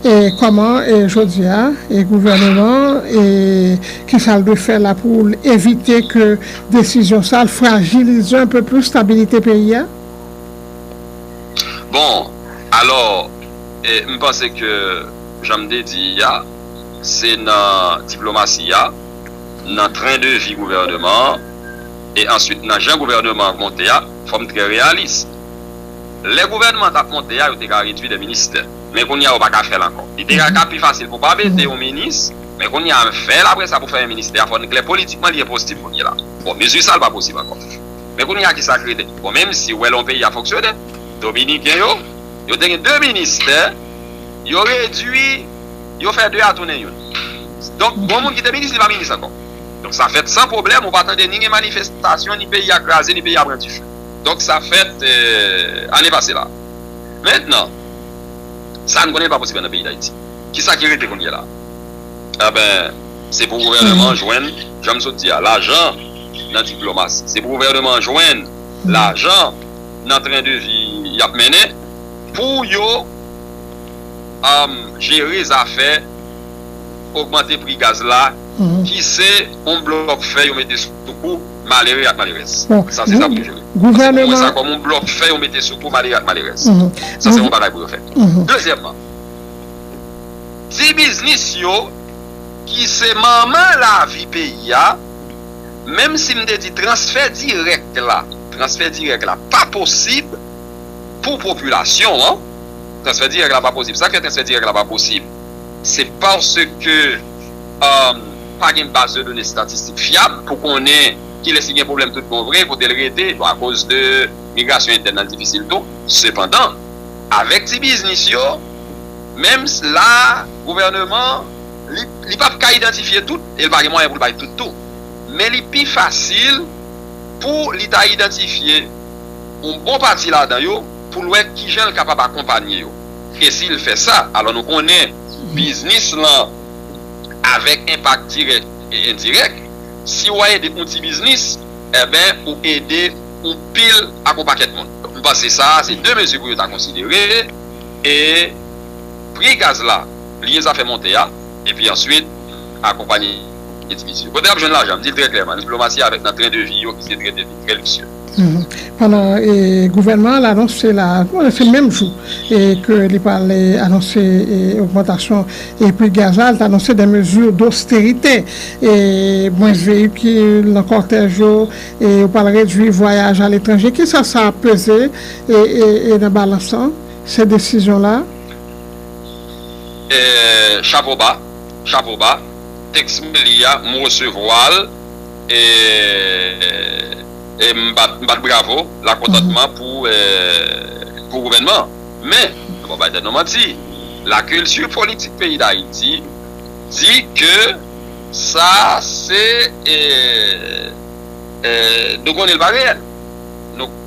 E kòman jodi a gouvèneman an e kisa l dwe fè la pou l evite ke Desizyon sa al frajilize un peu plus stabilite peyi a? Bon, alò, m panse ke jan m te di a, se nan diplomasi a, nan tren de vi gouvèneman an, e answit nan jan gouvèneman an monte a, fò m trè reyalis. Lè gouvèneman an t ap monte a, yo te ka redwi dè ministè. Men kounye a yo pa ka fè l ankò. Li te ka pi fasil pou pa mete yon minis. Men kounye a n fè l apre sa pou fèmen ministè a fò n klè politikman li enposib kounye la. Bon mezi sa l pa posib ankò. Men kounye a kisa k rete? Bon menmsi w wè lè yon peyi ap fonksyone. Dominiken yo, yo te gen 2 ministè, yo redui, yo fè 2 a tounen youn. Donk gon moun ki te minis li pa minis ankò. Donk sa fèt san pwoblèm ou pa tande ni gen manifestasyon ni peyi a kraze ni peyi a pran dife. Donk sa fèt ane pase la. Mentnan sa n konnen l pa posib nan peyi Dayiti. Kisa ki rete kounye la? Enben, se pou gouvèneman an jwenn, jan m sot di a, lajan nan diplomasi. Se pou gouvèneman an jwenn lajan nan tren de vi y ap mennen pou yo jere zafè ogmante pri gaz la ki se yon blòk fè yo mete sou kou malere ak malerèz. Sa se sa pou yo jere. Mwen wè sa kòm yon blòk fè yo mete sou kou malere ak malerèz. Sa se yon bagay pou yo fè. Dezyèmman. ti biznis yo ki se manman lavi peyi a, menm si m te di transfè dirèk la, transfè dirèk la pa posib pou popilasyon an, transfè dirèk la pa posib, sa k fè transfè dirèk la pa posib, se paske pa gen baz de done estatistik fyab pou konnen kilès ki gen pwoblèm tout bon vre, kote l rete, bon akoz de migrasyon entèn nan l difisil tou, sepandan avèk ti biznis yo. Menm la a, gouvèneman an, li, li pap ka idantifye tout, e l pa gen mwayen pou l bay tout tou. Men li pi fasil pou li ta idantifye yon bon pati ladan yo, pou l wè kijan l kapab akonpanye yo. E si l fè sa, alò nou konnen biznis lan avèk enpak dirèk e endirèk, si w ede yon ti biznis, enben ou ede yon pil ak yon pakèt moun. M panse sa a se de mezi pou yo ta konsidere. E pri gaz la bliye zafè monte a epi answit akonpanye diviz yo. Kote yap jwenn lajan? M di l trè klèman, diplomasi avèk nan tren de vi yo ki se tren de vi trè liksye. Pandan gouvènman an anonse la a, se menm jou ke li pral anonse ogmantasyon pri gaz la, li te anonse dè mezi dosterite, mwens veyikil nan kòtèj yo, yo pral redwi vwayaj aletranje. Kisa sa ap peze? e nan balans lan se desizyon la. Chapo ba, chapo ba, teks Meli a m resevwa l e m bat bravo lakontantman pou gouvènman an. Men, nou pa bay tèt nou manti, lakilti politik peyi Dayiti di ke sa se nou konnen l pa reyèl.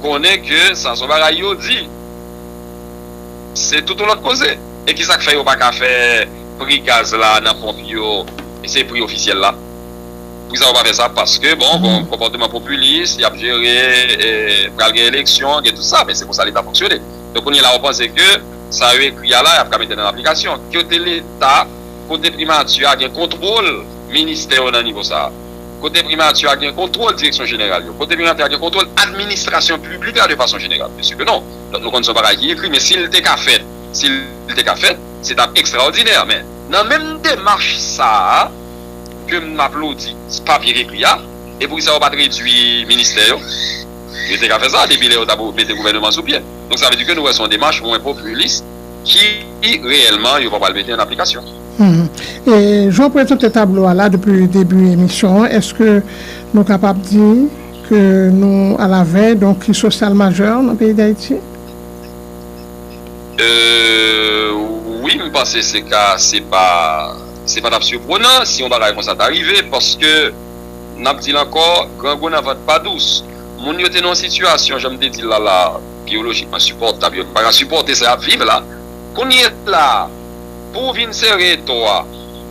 konnen ke sa son bagay yo di se tout yon lòt koze e kisa k fè yo pa ka fè pri gaz la nan ponp yo se pri ofisyèl la poukisa yo pa fè sa paske bon gon konpòteman popilis y ap jere pral gen eleksyon gen tout sa men se konsa leta fonksyone donk kounye la ou panse ke sa yo ekri a la y ap ka mete nan aplikasyon kote leta kote primati a gen kontwòl ministè yo nan nivo sa a. kote Primati a gen kontwòl direksyon jeneral yo, kote Primati a gen kontwòl administrasyon piblik la de fason jeneral? Byensi ke non. Donk nou konn se yon bagay ki ekri, men si l te ka fèt, si l te ka fèt, se t ap ekstraòdinè. Men, nan menm demach sa a ke m aplodi papye k ekri a, e poukisa yo pa t redui ministè yo? Yo te ka fè sa depi lè yo t ap mete gouvèneman sou pye. Donk sa vle di ke nou wè se yon demach mwen popilis. ki reyèlman yo pa pral mete an aplikasyon. E jan w prezante tablo a la depi debi emisyon an, èske nou kapab di ke nou alavèy don kriz sosyal majè nan peyi Dayiti? Ee wi, m panse se ka se pa se pa t ap siprenan si yon bagay konsa ta rive paske n ap di l ankò, grangou nan vant pa dous. Moun yo te nan yon sitiyasyon jan m te di l la la a. biyolojikman sipòtab yo, nou pa ka sipòte sa y ap viv la, kounye la a, pou ou vin sere eto a,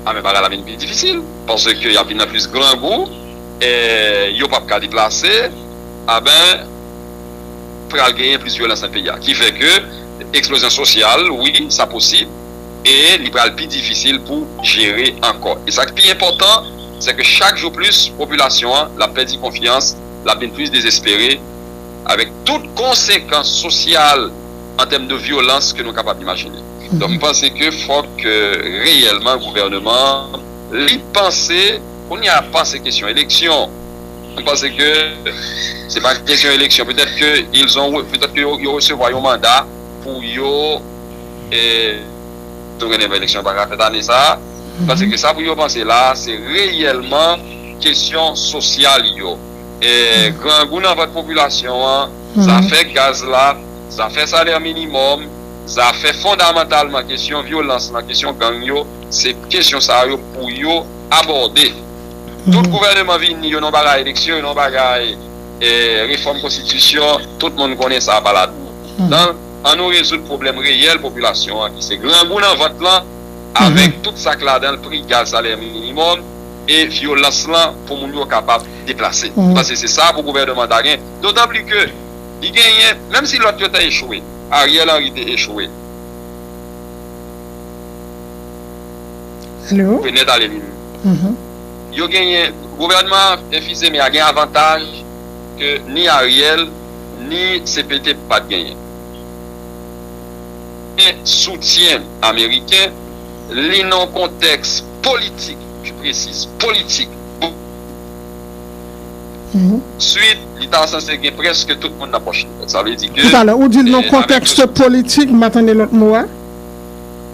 a men bagay la vin pi difisil, paske y ap vin nan plis grangou, e yo p ap ka deplase, a ben, pral genyen plis vyolans nan peyi a, ki fè ke eksplozyon sosyal, wi, sa posib, e li pral pi difisil pou jere ankò. E sa k pi enpòtan, se ke chak jou plis, popilasyon an, l ap pèdi konfyans, l ap vin plis dezespere, avèk tout konsekans sosyal an tèm de vyolans ke nou kapab imajine. Donk m panse ke fòk reyèlman gouvèneman an li panse, kounye a panse kesyon eleksyon, m panse ke se pa kesyon eleksyon, petèt ke ils ont, petèt ke yo resevwa yon manda pou yo tou gen devan eleksyon yo pa ka fèt ane sa a, m panse ke sa pou yo panse la a se reyèlman kesyon sosyal yo. grangou nan vant popilasyon an, zafè gaz la, zafè salè minimòm, zafè fondamantalman kesyon vyolans lan, kesyon gang yo, se kesyon sa yo pou yo abòde. Tout gouvèneman vini, yo nan bagay eleksyon, yo nan bagay refòm konstitisyon, tout moun konnen sa pa ladan nan. An nou rezoud pwoblèm reyèl popilasyon an ki se grangou nan vant lan avèk tout sa k ladan l, pri gaz, salè minimòm. e vyolans lan pou moun yo kapab deplase. M panse se sa pou gouvèneman ta gen, dotanpli ke li genyen, menm si lòt yo te echwe, Ariel Henry te echwe. Mwen nèt ale li menm. Yo genyen, gouvèneman an, Fils-Aimé a gen avantaj ke ni Ariel, ni CPT pa t genyen. Gen soutyen ameriken, li nan yon kontèks. politik, pi presiz, politik, pou swit li ta sanse gen prèske tout moun nan pòch li. Sa vle di ke. Tout alè, ou di l nan kontèks politik, m pa tande lòt mo a.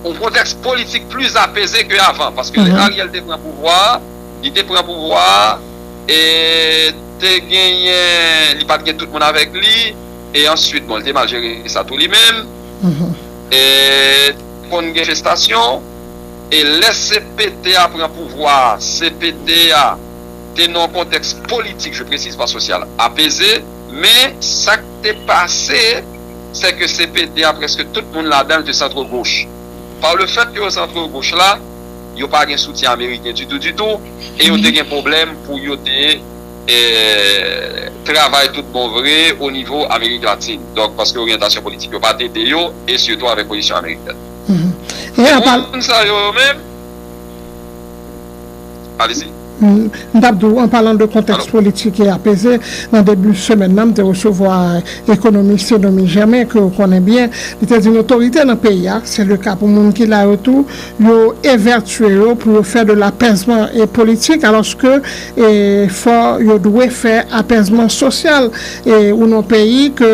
Yon kontèks politik pli apeze ke avan. Paske lè Ariel te pran pouvwa a, li te pran pouvwa a, e te genyen, li pa t gen tout moun avèk li, e answit, bon, li te mal jere sa tou li menm, e konn gen festasyon. E lè cpt a pran pouvwa a, cpt a te nan yon kontèks politik, je presise, pas sosyal, apeze, men sa k te pase sè ke cpt a prèske tout moun ladan l te centre gauche. Par le fait ke yo centre gauche la, yo pa gen soutyen ameriken ditou ditou e yo te gen pwoblèm pou yo te travay tout bon vre o nivo Amerik Latine. Donk paske oryantasyon politik yo pa t ede yo e sitou avèk pozisyon amerikèn. Moun sa yo menm Alezi. M tap di w, an palan de kontèks politik e apeze, nan debi semèn nan m te resevwa ekonomis Senomy Germain ke w konnen byen, li te di n otorite nan peyi a, se le ka pou moun ki la yo tou, yo evètye yo pou yo fè de lapèzman e politik alòske fò yo dwe fè apèzman sosyal e ou nan peyi ke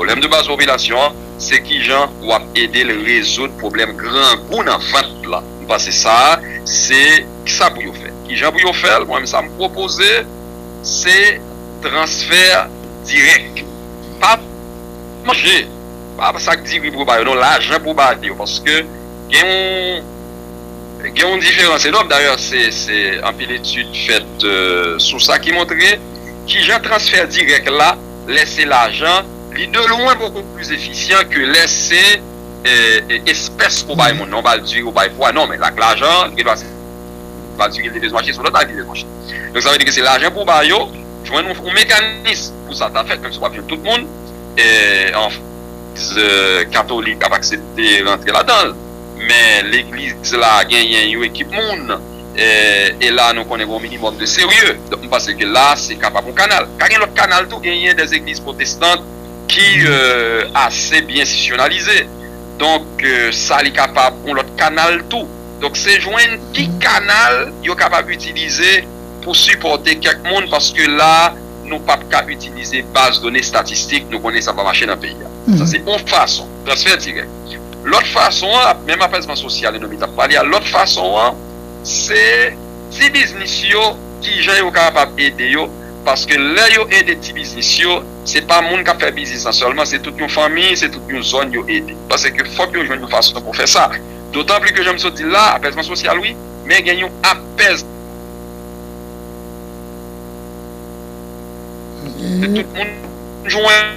Pwoblèm de baz popilasyon an, se kijan w ap ede l rezoud pwoblèm grangou nan vant la. M panse sa a se sa pou yo fè. Kijan pou yo fè l? Mwen menm sa m pwopoze se transfè dirèk. Pa manje, pa sak diri pou yo ba yo non, lajan pou w ba yo. Paske gen yon diferans enòm. Dayè se anpil etid fèt sou sa ki montre kijan transfè dirèk la. lè se lajan, li de lwen boko pli efisyan ke lè se espès ke w bay moun nan, w ba l diri, w bay pwa. Non, men ak lajan, gen dwa se pa diri l te bezwen achte, se yon lòt bagay li te bezwen achte. Donk sa vle di ke se lajan pou w ba yo, jwenn yon mekanis pou sa ta fèt, menm si w pa ap jwenn tout moun, anfn, legliz katolik ap aksepte rantre ladan l, men legliz la genyen yon ekip moun, E la nou konnen gen yon minimum de serye. Donk m panse ke la se kapab yon kanal. Ka gen lòt kanal tou, genyen des egliz pwotestant ki ase byen sisyonalize. Donk sa li kapab yon lòt kanal tou. Donk se jwenn ki kanal yo kapab itilize pou sipòte kèk moun paske la nou pap ka itilize baz done statistik, nou konnen sa pa mache nan peyi a. Sa se yon fason. Transfè dirèk. Lòt fason an, menm apèzman sosyal Enomy t ap pale a, lòt fason an se ti biznis yo ki jan yo kapab ede yo paske lè yo ede ti biznis yo se pa moun k ap fè biznis lan sèlman se tout yon fanmi, se tout yon zòn yo ede paske fòk yo jwenn yon fason pou fè sa dotanpli ke jan m sot di l la apèzman sosyal wi men gen yon apèz. Se tout moun jwenn.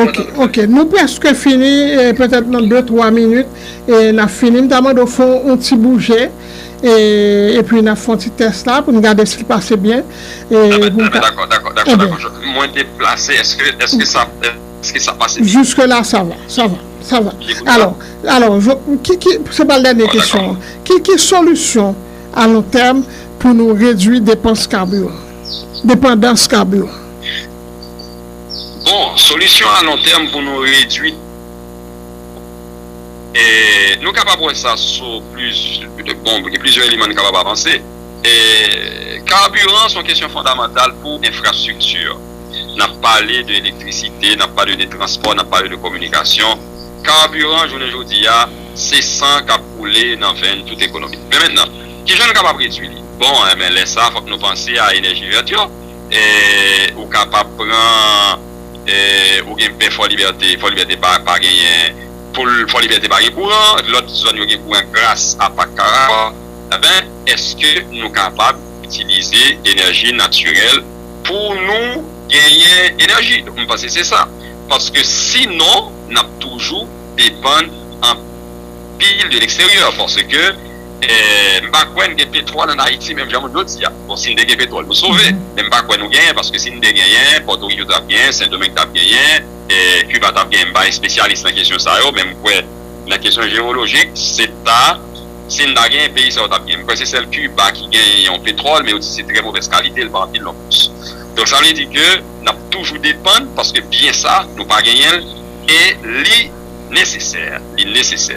Ok ok nou preske fini petèt nan 2 3 minit nap fini m ta mande w fè yon ti bouje epi nap fè yon ti tès la pou nou gade si l pase byen Dakò dakò dakò mwen deplase èske sa pase byen Jiske la sa va sa va sa va alò alò se pa dènye kesyon an ki solisyon a lon tèm pou nou redwi depans kabiran depandans kabiran Bon, solisyon a lon tèm pou nou redwi, nou kapab wè sa sou plizyè, bon gen plizyè eleman nou kapab avanse. Kaburan se yon kesyon fondamantal pou enfrastrikti. N ap pale de elektrisite, n ap pale de transpò, n ap pale de kominikasyon. Kaburan jounen jodi a se san k ap koule nan venn tout ekonomi. Men mentenan, kijan nou kapab redwi li? Bon, lè sa a fòk nou panse a enèji vèt yo. ou kapab pran ou gen bè fò libète fò libète pa genyen poul fò libète pa gen kouran lòt zòn yo gen kouran gras a pak karaha enben eske nou kapab itilize enèji natirèl pou nou genyen enèji m panse se sa paske si non nap toujou depann anpil de leksteryè paske Eeh m pa kwè n gen petwòl an Ayiti menm jan moun yo di a. Bon si n te gen petwòl nou sove men m pa kwè nou genyen paske si n te genyen Pòtoriko t ap genyen, Sendomeng t ap genyen, eeh Kiba t ap genyen m pa espesyalis nan kesyon sa yo men m kwè nan kesyon jewolojik se ta si n ta genyen peyi sa yo t ap genyen. M kwè se sèl Kiba ki genyen yon petwòl men yo di se trè movèz kalite l pa anpil non plis. Donk sa vle di ke n ap toujou depann paske byen sa nou pa genyen l e li nesesè, li nesesè.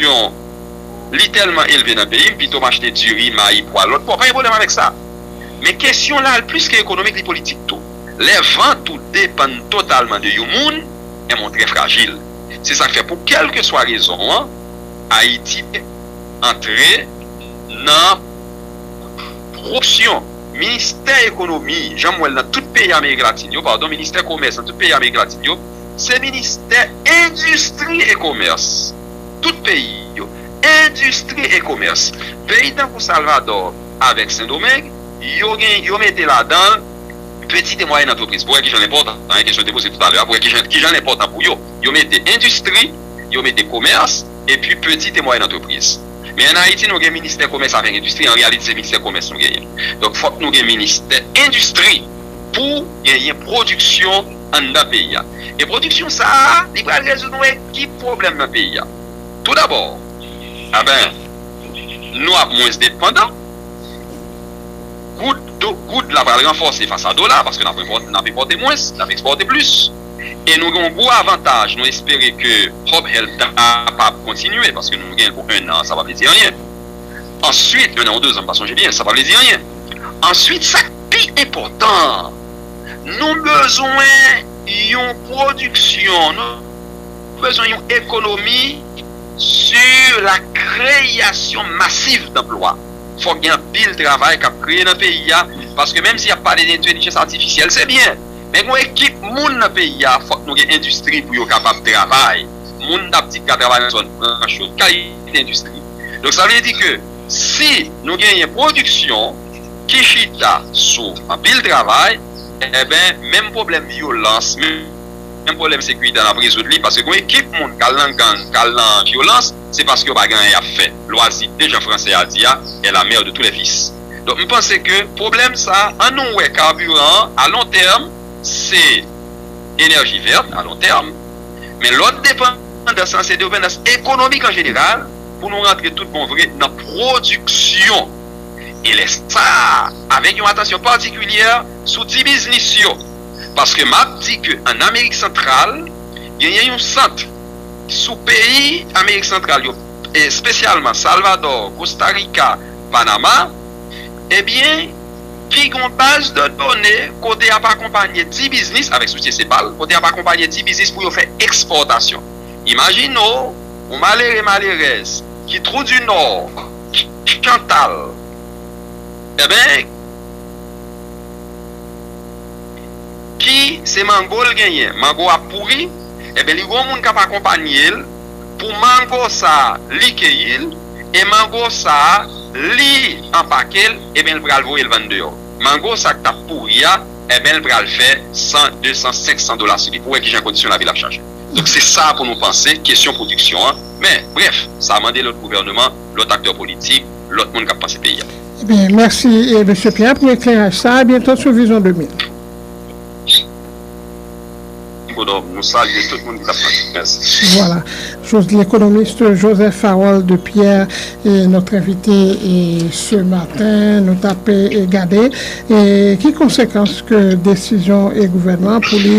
Yon Li telman elve nan peyim pito m achte diri, mayi, pwa, lòt pwa pa gen pwoblèm avèk sa. Men kesyon la al plis ke ekonomik li politik tou. Lè vant ou depann totalman de yon moun, enben ou trè frajil. Se sak fè pou kèlkeswa rezon an Ayiti antre nan kowopsyon. Ministè ekonomi jan m wè l nan tout peyi amerik latin yo, padon ministè komès nan tout peyi amerik latin yo, se ministè endistri e komès tout peyi yo endistri e komès peyi tankou salvadò avèk sendomeng yo gen yo mete ladanl pitit e mwayèn antrepriz pou wè kijan l enpòtan an e kesyon w te poze toutalè a pou wè kijan kijan l enpòtan pou yo yo mete endistri yo mete komès epi pitit e mwayèn antrepriz men an ayiti nou gen ministè komès avèk endistri an reyalite se ministè komès nou genyen donk fòk nou gen ministè endistri pou genyen pwodiksyon. anndan peyi a. E pwodiksyon sa a, li pral rezoud yon ekip pwoblèm nan peyi a. Tou dabò, aben, nou ap mwens depandan, goud, do, goud la pral ranfòse fas a dola, paske n ap enpòte, n ap enpòte mwens, n ap ekspòte plis. E nou gen yon gwo avantaj, nou espere ke Hope Health ta kapab kontinye, paske nou gen l pou ennan an, sa pa vle di anyen. Answit, ennan ou dezan, m pa sonje byen, sa pa vle di anyen. Answit, sa k pi enpòtan an, Nou bezwen yon pwodiksyon, nou bezwen yon ekonomi sou la kreyasyon masiv danplwa. Fòk gen anpil travay k ap kreye nan peyi a, paske menm si y ap pale de entelijans atifisyèl se byen, men gen yon ekip moun nan peyi a fòk nou gen endistri pou yo kapab travay. Moun t ap di k ka travay nan zòn franch yo, ki kalite endistri? Donk sa vle di ke si nou genyen pwodiksyon. ki chita sou anpil travay enben menm pwoblèm vyolans menm pwoblèm sekirite an ap rezoud li paske gon ekip moun k al nan gang k al nan vyolans se paske yo pa gen anyen y ap fè lwazi de jan fransè a di a est la mère de tous les vices donk m panse ke pwoblèm sa an nou wè kaburan an a lon tèm se enèji vèt a lon tèm men lòt depandans lan se depandans ekonomik an jeneral pou nou rantre tout bon vre nan pwodiksyon. e lè sa a avèk yon atansyon patikilyè sou ti biznis yo paske m ap di ke an Amerik Santral genyen yon sant sou peyi Amerik Santral yo espesyalman Salvadò, Kosta Rika, Panama ebyen ki gen yon baz de done kote y ap akonpanye ti biznis avèk soutyen CEPAL kote y ap akonpanye ti biznis pou yo fè ekspòtasyon. Imajine w yon malere, malerèz ki Trou di Nò. Chantal enben ki se mango l genyen mango a pouri enben li gon moun kap akonpanye l pou mango sa li keyi l e mango sa li anpake l enben l pral voye l vann deyò mango sa k tap pouri a enben l pral fè 100 200 500 dola sou li pou wè kijan kondisyon lavi l ap chanje. Donk se sa pou nou panse kesyon pwodiksyon an, men, brèf, sa mande lòt gouvèneman, lòt aktè politik, lòt moun k ap panse peyi a. Ebyen, mèsi Mesye Pierre pou ekleraj sa a, abyento sou Vizyon 2000. Ekonom, nou salye tout moun ki t ap tande. Mèsi. Vwala, lekonomist Joseph Harold Pierre, nòt envite se maten. Nou t ap gade ki konsekans ke desizyon gouvènman an pou li.